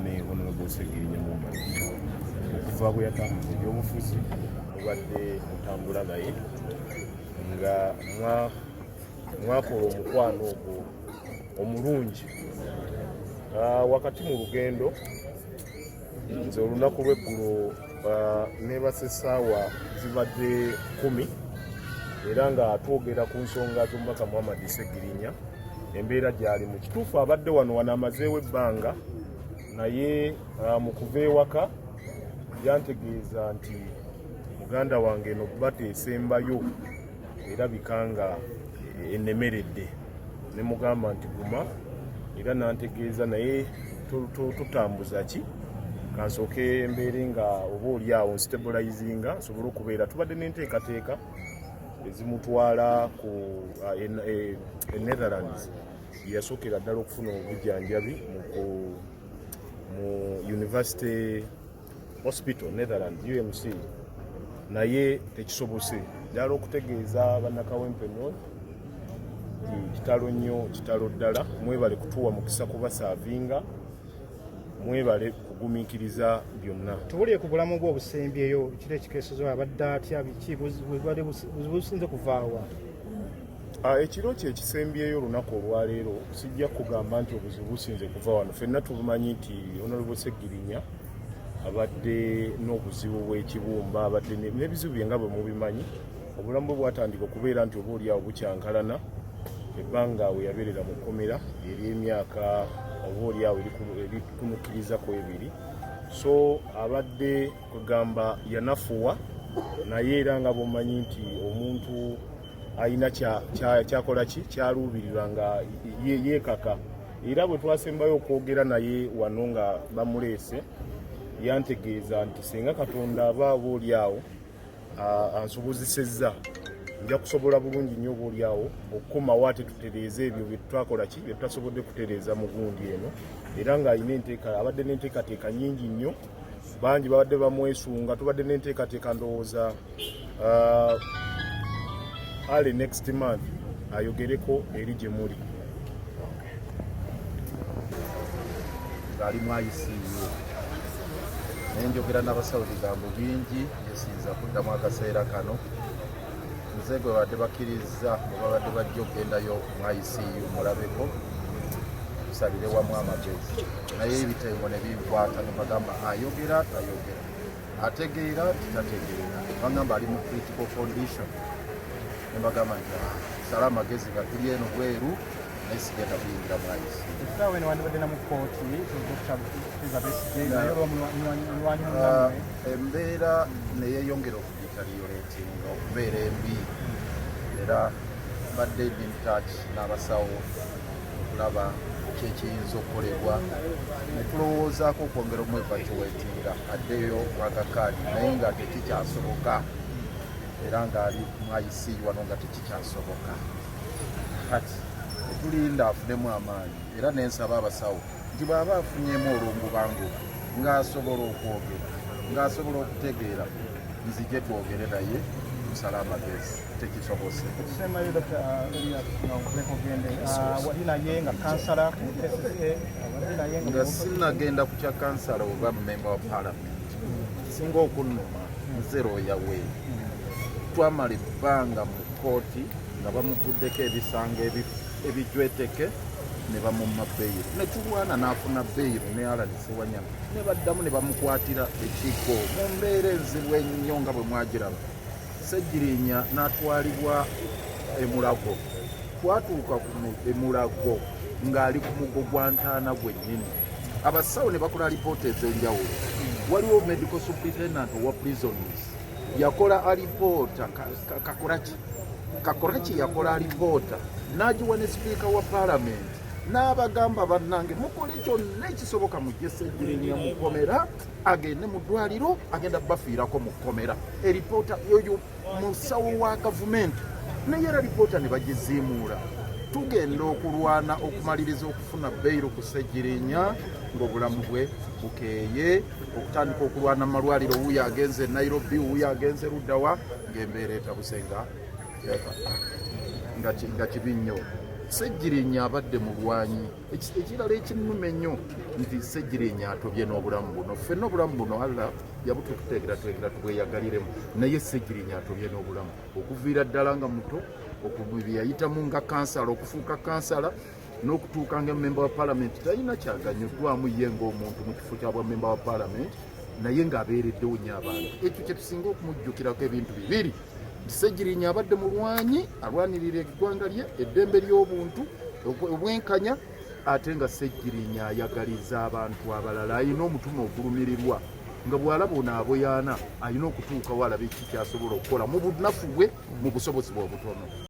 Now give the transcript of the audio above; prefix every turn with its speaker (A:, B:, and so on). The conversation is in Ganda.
A: ne honorable segirinya mumbali okuva bwe yatambuza ebyobufuzi mubadde mutambula naye nga mwakola omukwano ogwo omulungi ah, wakati mu lugendo nze olunaku lweggulo neebasa essaawa zibadde kumi era nga twogera ku nsonga z'omubaka muhammad segirinya embeera gyali mu kituufu abadde wano wano amazeewo ebbanga naye uh, mu kuva ewaka yantegeeza nti muganda wange eno bata esembayo erabika nga enemeredde ne mugamba nti guma era nantegeeza naye tutambuza ki kansooke mbeere nga oba oli awo nstabulayizinga nsobole okubeera tubadde n'enteekateeka ezimutwala ku uh, e, e netherlands yeyasookera ddala okufuna obujanjabi mu university hospital netherland umc naye tekisobose ddala okutegeeza bannakawempe north kitalo nnyo kitalo ddala mwebale kutuwa mukisa kubasaavinga mwebale kugumiikiriza byonna tubulire ku bulamu bwe
B: obusembyeyo kiri ekikeesezo abadde atya biki bwali businze kuvaawa Ah,
A: ekiro kye kisembyeyo olunaku olwaleero sijja kugamba nti obuzibu businze kuva wano fenna tubumanyi nti onalebo segirinya abadde n'obuzibu bw'ekibumba abadde n'ebizibu bye nga bwe mubimanyi obulamu bwe bwatandika okubeera nti oba oliawo bukyankalana ebbanga we yabeerera mu kkomera ery'emyaka oba oliawo erikunukiriza ku ebiri so abadde kwegamba yanafuwa naye era nga bwomanyi nti omuntu alina kyakola ki kyaluubirirwa nga yeekaka era bwe twasembayo okwogera naye wano nga bamuleese yantegeeza nti singa katonda aba aba oli awo ansobozesezza nja kusobola bulungi nnyo oba olyawo okukomawo ate tutereeze ebyo byetutwakola ki byetutasobodde kutereeza mu gundi eno era ng'alina enteeka abadde n'enteekateeka nyingi nnyo bangi babadde bamwesunga tubadde n'enteekateeka ndowooza uh, ali next month ayogereko eri gye muli
C: ng'alimu ayisiiyo naye njogera n'abasawo bigambo bingi byesinza kuddamu akaseera kano nze gwe babadde bakkirizza bwe babadde bajja okugendayo ICU mulabeko tusalire wamu amagezi naye ebitengo ne binkwata ne bagamba ayogera tayogera ategeera titategeera bagamba ali mu critical condition ne bagamba nti ah, sala amagezi nga tuli eno bweru naye sigenda kuyingira mu ICU essaawa eno wandibadde na mu
B: kkooti
C: embeera neyeyongera deteriorating okubeera embi era badde in touch n'abasawo okulaba kyekiyinza okukolebwa netulowoozaako okwongera omwevacuwetinga addeyo mwagakaadi naye nga tekikyasoboka era ngaali mwayisi wano nga tekikyasoboka kati tulinda afunemu amaanyi era nensaba abasawo nti bw'aba afunyemu olw'omubango ng'asobola okwogera ng'asobola okutegeera nzije twogere naye kusala amagezi tekisobose nga sinagenda ku kya kansala oba memba wa palamenti singa okunuma nze looya we twamala ebbanga mu kkooti nga bamuguddeko ebisango ebifu ebijweteke ne bamumma beyiro ne tulwana n'afuna beyiro ne alani sewanyana ne baddamu ne bamukwatira ekigo mu mbeera enzibu ennyo nga bwe mwagiraba segirinya n'atwalibwa emulago twatuuka ku emulago ng'ali ku mugo gwa ntaana gwennyini abasawo ne bakola alipoota ez'enjawulo waliwo medical superintendent owa prisons yakola alipoota kakoraki Kakoraki yakola alipoota n'agiwa ne sipiika wa paalamenti n'abagamba bannange mukole kyonna ekisoboka mujje segirinya mu kkomera agende mu ddwaliro agenda bafiirako mu kkomera eripoota yoyo musawo wa gavumenti naye era lipoota ne bagiziimuula tugenda okulwana okumaliriza okufuna beyiro ku segirinya ng'obulamu bwe bukeeye okutandika okulwana mu malwaliro wuyo agenze e nairobi wuyo agenze luddawa ng'embeera etabuse nga nga kibi nnyo ssegirinya abadde mulwanyi ekirala ekinuma ennyo nti ssegirinya atobye n'obulamu buno ffenna obulamu buno allah yabututeekerateekera tubweyagaliremu naye ssegirinya atobye n'obulamu okuviira ddala nga muto okubye yayitamu nga kansala okufuuka kansala n'okutuuka nga memba wa palamenti talina kyaganyuddwamu ye ng'omuntu mu kifo kya bwamemba wa palamenti naye ng'abeereddewo nyo abantu ekyo kyetusinga okumujjukirako ebintu bibiri ssegirinya abadde mulwanyi alwanirira eggwanga lye eddembe ly'obuntu obwenkanya ate nga ssegirinya ayagaliza abantu abalala alina omutima ogulumirirwa nga bwalaba ono aboyaana alina okutuukawo alabe ki kyasobola okukola mu bunafu bwe mu busobozi bwe obutono